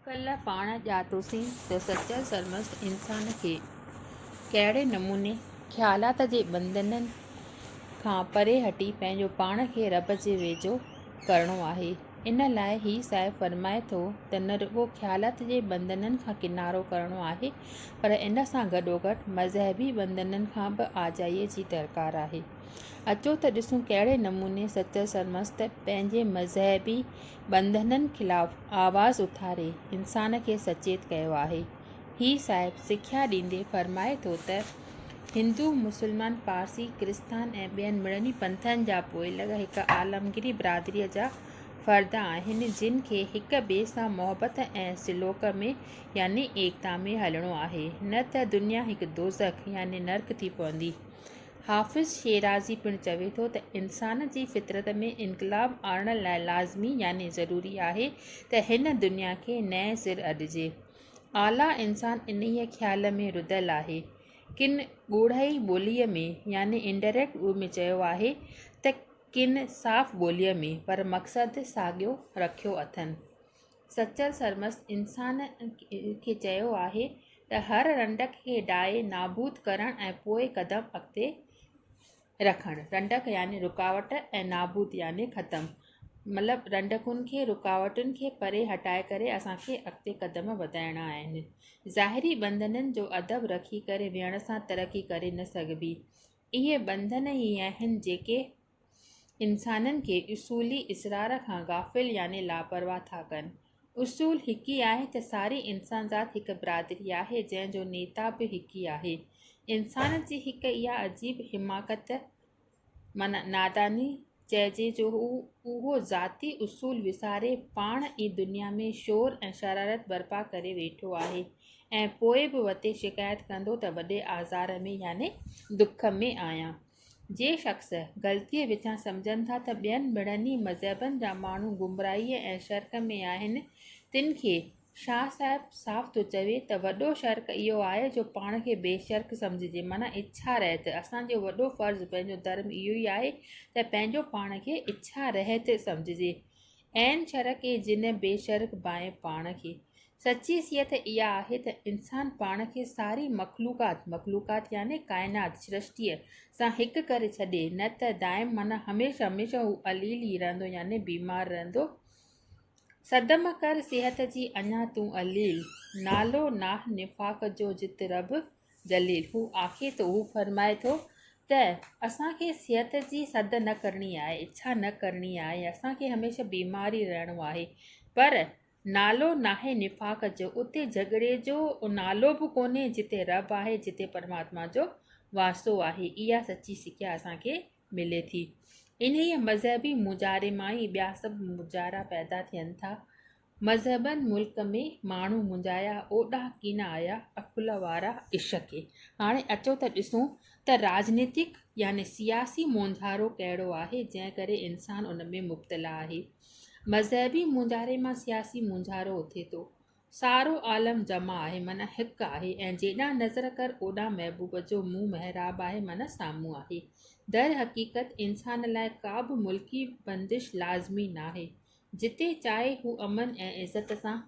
ڪلهه پاڻ ڄاتوسين ته سچل سرمست انسان کي ڪهڙي نموني خيالات جي ٻنڌنن کان پري هٽي پنهنجو پاڻ کي رب جي ويجهو ڪرڻو آهي. ان لاء هي صاحب فرمائي ٿو ته نه رڳو خيالات جي ٻنڌنن کان ڪنارو ڪرڻو آهي پر ان سان گڏوگڏ مذهبي ٻنڌنن کان به آجائيء جي درڪار آهي. اچو ته ڏسون ڪهڙي نموني سچل سرمست پنهنجي مذهبي ٻنڌنن خلاف آواز اٿاري انسان کي سچيت ڪيو آهي. هي صاحب سکيا ڏيندي فرمائي ٿو ته، هندو، مسلمان، پارسي، ڪرستان ۽ ٻين مڙني پنٿن جا پوئلڳ هڪ عالمگيري برادريء جا فرد آهن، جن کي هڪ ٻئي سان محبت ۽ سلوڪ ۾ يعني ايڪتا ۾ هلڻو آهي، نه ته دنيا هڪ دوزخ يعني نرڪ ٿي پوندي. حافظ شيرازي پڻ چوي ٿو ته انسان جي فطرت ۾ انقلاب آڻڻ لاء لازمي يعني ضروري آهي ته هن دنيا کي نئين سر اڏجي. اعليٰ انسان انهيء خيال ۾ رڌل آهي. ڪن ڳوڙهائي ٻوليء ۾ يعني Indirect Way ۾ چيو آهي ته ڪن صاف ٻوليء ۾ پر مقصد ساڳيو رکيو اٿن. سچل سرمست انسان کي چيو آهي ته هر رنڊڪ کي ڊاهي نابود ڪرڻ ۽ پوء قدم اڳتي رکڻ. رنڊڪ يعني رڪاوٽ ۽ نابود يعني ختم. مطلب رنڊڪن کي رڪاوٽن کي پري هٽائي ڪري اسان کي اڳتي قدم وڌائڻا آهن. ظاهري ٻنڌنن جو ادب رکي ڪري ويهڻ سان ترقي ڪري نه سگهبي. اهي ٻنڌن ئي آهن جيڪي. انسانن کي اصولي اسرار کان غافل يعني لاپرواهه ٿا ڪن. اصول هڪ ئي آهي ته ساري انسانذات هڪ برادري آهي جنهن جو نيتا به هڪ ئي آهي. انسان جي هڪ اها عجيب حماقت معنيٰ ناداني چئجي جو هو اهو ذاتي اصول وساري پاڻ ئي دنيا ۾ شور ۽ شرارت برپا ڪري ويٺو آهي ۽ پوء به وتي شڪايت ڪندو ته وڏي آزار ۾ يعني دک ۾ آهيان. جي شخص غلطيء وچان سمجهن ٿا ته ٻين ٻڙهني مذهبن جا ماڻهو گمراهيء ۽ شرڪ ۾ آهن، تن کي شاهه صاحب صاف ٿو چوي ته وڏو شرڪ اهو آهي جو پاڻ کي بي شرڪ سمجهجي معنيٰ اڇا رهت اسان جو وڏو فرض پنهنجو ڌرم اهو ئي آهي ته پنهنجو پاڻ کي اڇا رهت سمجهجي عين شرڪ ۽ جن بي شرڪ بانء پاڻ کي. سچي صيحت اها آهي ته انسان پاڻ کي ساري مخلوقات، مخلوقات يعني ڪائنات، سرشتيء، سان هڪ ڪري ڇڏي، نه ته دائم معنيٰ هميشه هميشه هو عليل ئي رهندو يعني بيمار رهندو. صدم ڪر صيحت جي اڃا تون عليل. نالو ناهه نفاق جو جت رب جليل، هو آکي ٿو، هو فرمائي ٿو ته اسان کي صحت جي سڌ نه ڪرڻي آهي، اڇا نه ڪرڻي آهي، اسان کي هميشه بيمار ئي رهڻو آهي. پر نالو ناهي نفاق جو، اتي جهڳڙي جو نالو به ڪونهي، جتي رب آهي، جتي پرماتما جو واسطو آهي. اها سچي سکيا اسان کي ملي ٿي. انهيء مذهبي مونجهاري مان ئي ٻيا سڀ مونجهارا پيدا ٿين ٿا. مذهبن ملڪ ۾ ماڻهو منجهايا اوڏا ڪين آيا عقل وارا عشق کي هاڻي اچو ته ڏسون ته راجنيتڪ يعني سياسي مونجهارو ڪهڙو آهي جنهن ڪري انسان ان ۾ مبتلا آهي مذهبي مونجهاري مان سياسي مونجهارو اٿي ٿو سارو عالم جمع آهي معنيٰ هڪ آهي ۽ جيڏانهن نظر ڪر اوڏانهن محبوب جو منهن محراب آهي معنيٰ سامهون آهي در حقيقت انسان لاء ڪا به ملڪي بندش لازمي ناهي جتي چاهي هو امن ۽ عزت سان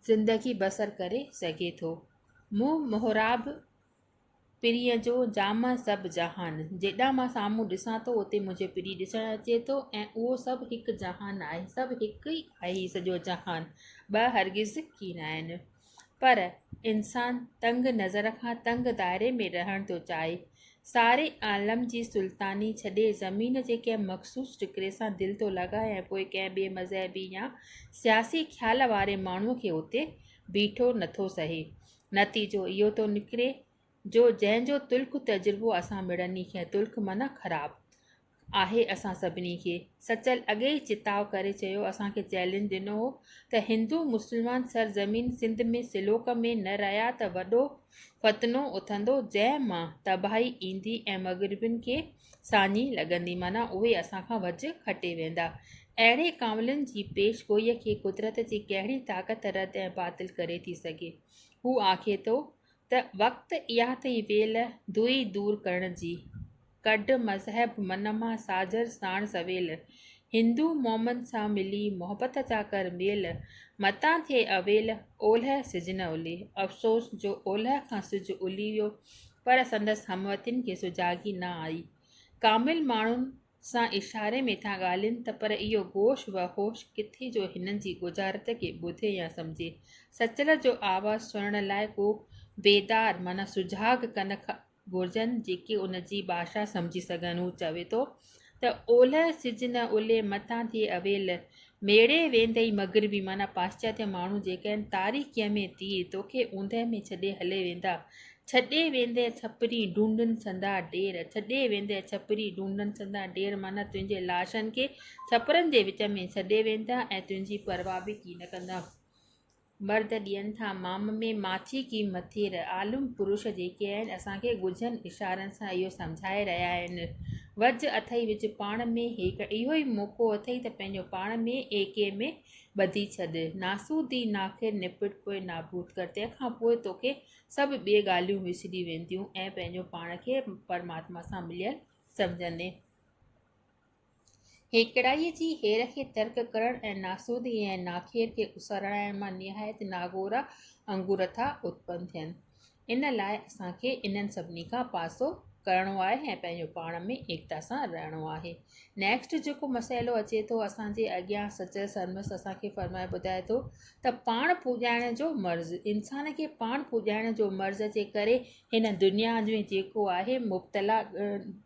زندگي بسر ڪري سگهي ٿو. مون محراب پرينء جو جامع سڀ جهان، جيڏانهن مان سامهون ڏسان ٿو اتي منهنجي پري ڏسڻ اچي ٿو ۽ اهو سڀ هڪ جهان آهي، سڀ هڪ ئي آهي سڄو جهان، ٻه هرگز ڪي ناهن. پر انسان تنگ نظر کان تنگ دائري ۾ رهڻ ٿو چاهي. ساري عالم جي سلطاني ڇڏي زمين جي ڪنهن مخصوص ٽڪري سان دل ٿو لڳائي ۽ پوء ڪنهن ٻئي مذهبي يا سياسي خيال واري ماڻهوء کي اتي بيٺو نٿو سهي. نتيجو اهو ٿو نڪري جو جنهن جو تلخ تجربو اسان مڙني کي تلخ معنيٰ خراب آهي اسان سڀني کي سچل اڳي ئي چتاء ڪري چيو اسان کي چئلينج ڏنو هو ته هندو مسلمان سر زمين سنڌ ۾ سلوڪ ۾ نه رهيا ته وڏو فتنو اٿندو جنهن مان تباهي ايندي ۽ مغربين کي ساڃي لڳندي معنيٰ اهي اسان کان وجهه کٽي ويندا اهڙي ڪانولين جي پيش گوئي کي قدرت جي ڪهڙي طاقت رد ۽ باطل ڪري ٿي سگهي هو آکي ٿو ته وقت اها ٿئي ويل، دوئي دور ڪرڻ جي. ڪڍ مذهب من مان ساجھر ساڻ سويل، هندو مومن سان ملي محبت جا ڪر ميل، متان ٿئي اويل، اولهه سج نه الهي. افسوس جو اولهه کان سج الهي ويو، پر سندس هموطنين کي سجاڳي نه آئي. ڪامل ماڻهن سان اشاري ۾ ٿا ڳالهين ته پر اهو گوش و هوش ڪٿي جو هنن جي ڳجهارت کي ٻڌي يا سمجهي. سچل جو آواز سڻڻ لاء ڪو بيدار معنيٰ سجهاڳ ڪن گهرجن جيڪي ان جي ڀاشا سمجهي سگهن. هو چوي ٿو ته اولهه سج نه الهي متان ٿئي اويل ميڙي ويندئي مغربي معنيٰ پاسچاتي ماڻهو جيڪي آهن تاريڪيء ۾ تير توکي اوندهه ۾ ڇڏي هلي ويندا ڇڏي ويندئي ڇپرين ڍونڍن سندا ڍير ڇڏي ويندئي ڇپرين ڍونڍن سندا ڍير معنيٰ تنهنجي لاشن کي ڇپرن جي وچ ۾ ڇڏي ويندا ۽ تنهنجي پرواهه به ڪين ڪندا. مرد ڏين ٿا مام ۾ ماڇي ڪي مٿير عالم پروش جيڪي آهن اسان کي ڳجهن اشارن سان اهو سمجهائي رهيا آهن وجهه اٿئي وجهه پاڻ ۾ هيڪ اهو ئي موقعو اٿئي ته پنهنجو پاڻ ۾ ايڪي ۾ ٻڌي ڇڏ ناسودي ناخير نپٽ پوء نابود ڪر تنهن کان پوء توکي سڀ ٻي ڳالهيون وسري وينديون ۽ پنهنجو پاڻ کي پرماتما سان مليل سمجهندين هيڪڙائيء جي هير کي ترڪ ڪرڻ ۽ ناسودي ۽ ناخير کي اسرائڻ مان نهايت ناگورا انگور ٿا اتپن ٿين. ان لاء اسان کي انهن سڀني کان پاسو ڪرڻو آهي ۽ پنهنجو پاڻ ۾ ايڪتا سان رهڻو آهي. نيڪسٽ جيڪو مسئلو اچي ٿو اسان جي اڳيان سچل سرمست اسان کي فرمائي ٻڌائي ٿو ته پاڻ پوڄائڻ جو مرض انسان کي پاڻ پوڄائڻ جو مرض جي ڪري هن دنيا ۾ جيڪو آهي مبتلا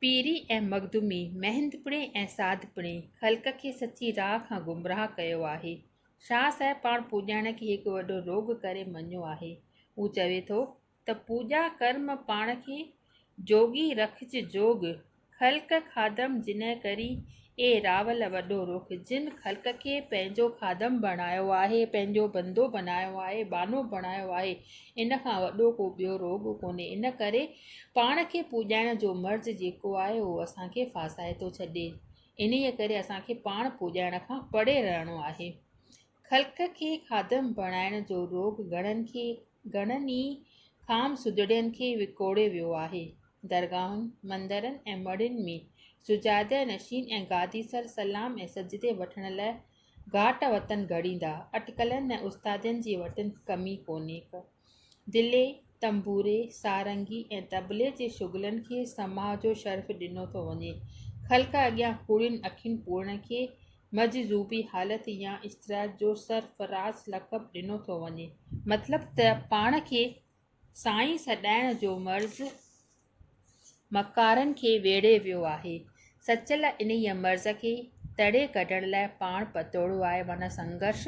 پيري ۽ مخدومي، مهندپڻي ۽ سادپڻي خلق کي سچي راهه کان گمراهه ڪيو آهي. شاهه صاحب پاڻ پوڄائڻ کي هڪ وڏو روڳ ڪري مڃيو آهي. هو چوي ٿو ته پوڄا ڪرم پاڻ کي جوڳي رکج جوڳ، خلق خادم جنهن ڪرين اي راول وڏو رخ! جن خلق کي پنهنجو خادم بڻايو آهي، پنهنجو بندو بنايو آهي، بانو بڻايو آهي، ان کان وڏو ڪو ٻيو روڳ ڪونهي. ان ڪري پاڻ کي پوڄائڻ جو مرض جيڪو آهي، اهو اسان کي ڦاسائي ٿو ڇڏي. انهيء ڪري اسان کي پاڻ پوڄائڻ کان پري رهڻو آهي. خلق کي خادم بڻائڻ جو روڳ گهڻن کي گهڻن ئي خام سجڙين کي وڪوڙي ويو آهي. درگاهن، مندرن ۽ مڙهين ۾ سجاده نشين ۽ گادي سر سلام ۽ سجدي وٺڻ لاء گهاٽ وطن گهڙيندا اٽڪلن ۽ استادين جي وٽن ڪمي ڪونهي ڪا. دلي، تنبوري، سارنگي ۽ طبلي جي شغلن کي سماع جو شرف ڏنو ٿو وڃي. خلق اڳيان ڪوڙين اکين پوڙهڻ کي مجذوبي حالت يا اشترايت جو سرفراز لقب ڏنو ٿو وڃي. مطلب ته پاڻ کي سائين سڏائڻ جو مرض مڪارن کي ويڙهي ويو آهي. سچل انهيء مرض کي تڙي ڪڍڻ لاء پاڻ پتوڙو آهي معنيٰ سنگهرش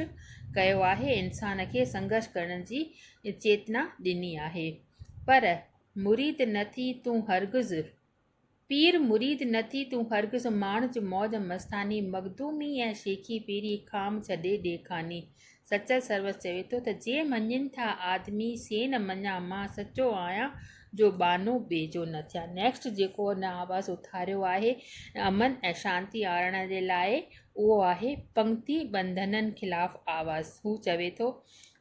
ڪيو آهي، انسان کي سنگهرش ڪرڻ جي چيتنا ڏني آهي. پر مريد نه ٿي تون هرگز، پير مريد نه ٿي تون هرگز ماڻج موج مستاني، مخدومي ۽ شيخي پيري کام ڇڏي ڏي خاني، سچل سروس چوي ٿو ته جي مڃين ٿا آدمي سي نه مڃا مان سچو آهيان جو ٻانهو ٻئي جو نه ٿيان نيڪسٽ جيڪو هن آواز اٿاريو آهي امن ۽ شانتي آڻڻ جي لاء اهو آهي پنگتي ٻنڌنن خلاف آواز هو چوي ٿو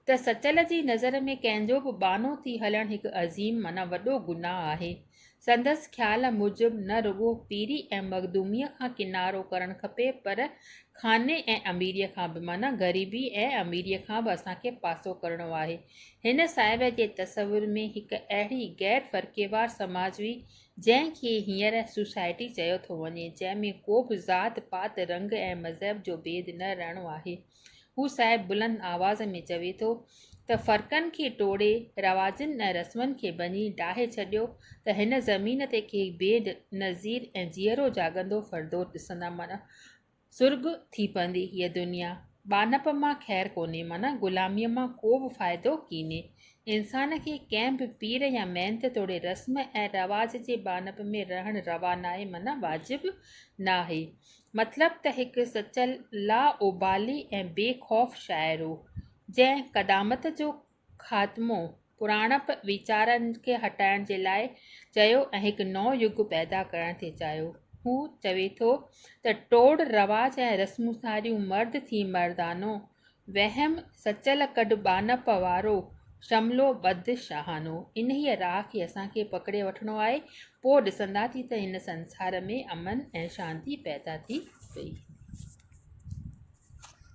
ته سچل جي نظر ۾ ڪنهن جو به ٻانهو ٿي هلڻ هڪ عظيم معنيٰ وڏو گناهه آهي سندس خيال موجب نه رڳو پيري ۽ مخدوميء کان ڪنارو ڪرڻ کپي پر خاني ۽ اميريء کان به معنيٰ غريبي ۽ اميريء کان به اسان کي پاسو ڪرڻو آهي. هن صاحب جي تصور ۾ هڪ اهڙي غير فرقيوار سماج هئي جنهن کي هينئر سوسائٽي چيو ٿو وڃي جنهن ۾ ڪوبه ذات پات رنگ ۽ مذهب جو ڀيد نه رهڻو آهي. هو صاحب بلند آواز ۾ چوي ٿو ته فرقن کي ٽوڙي، رواجن ۽ رسمن کي ڀڃي ڊاهي ڇڏيو ته هن زمين تي ڪي بي نظير ۽ جيئرو جاڳندو فردوس ڏسندا معنيٰ سرڳ ٿي پوندي هيء دنيا. ٻانهپ مان خير ڪونهي معنيٰ غلاميء مان ڪو به فائدو ڪينهي. انسان کي ڪنهن به پير يا محنت توڙي رسم ۽ رواج جي ٻانهپ ۾ رهڻ روا ناهي معنيٰ واجب ناهي. مطلب ته هڪ سچل لا ابالي ۽ بي خوف شاعر هو، جنهن قدامت جو خاتمو پراڻپ ويچارن کي هٽائڻ جي لاء چيو ۽ هڪ نئون يگ پيدا ڪرڻ ٿي چاهيو. هو چوي ٿو ته ٽوڙ رواج ۽ رسمون ساريون مرد ٿي مردانو وهم سچل ڪڍ ٻانهپ وارو، شملو ٻڌ شاهانو. انهيء راهه کي اسان کي پڪڙي وٺڻو آهي، پوء ڏسنداسين ته هن سنسار ۾ امن ۽ شانتي پيدا ٿي وئي.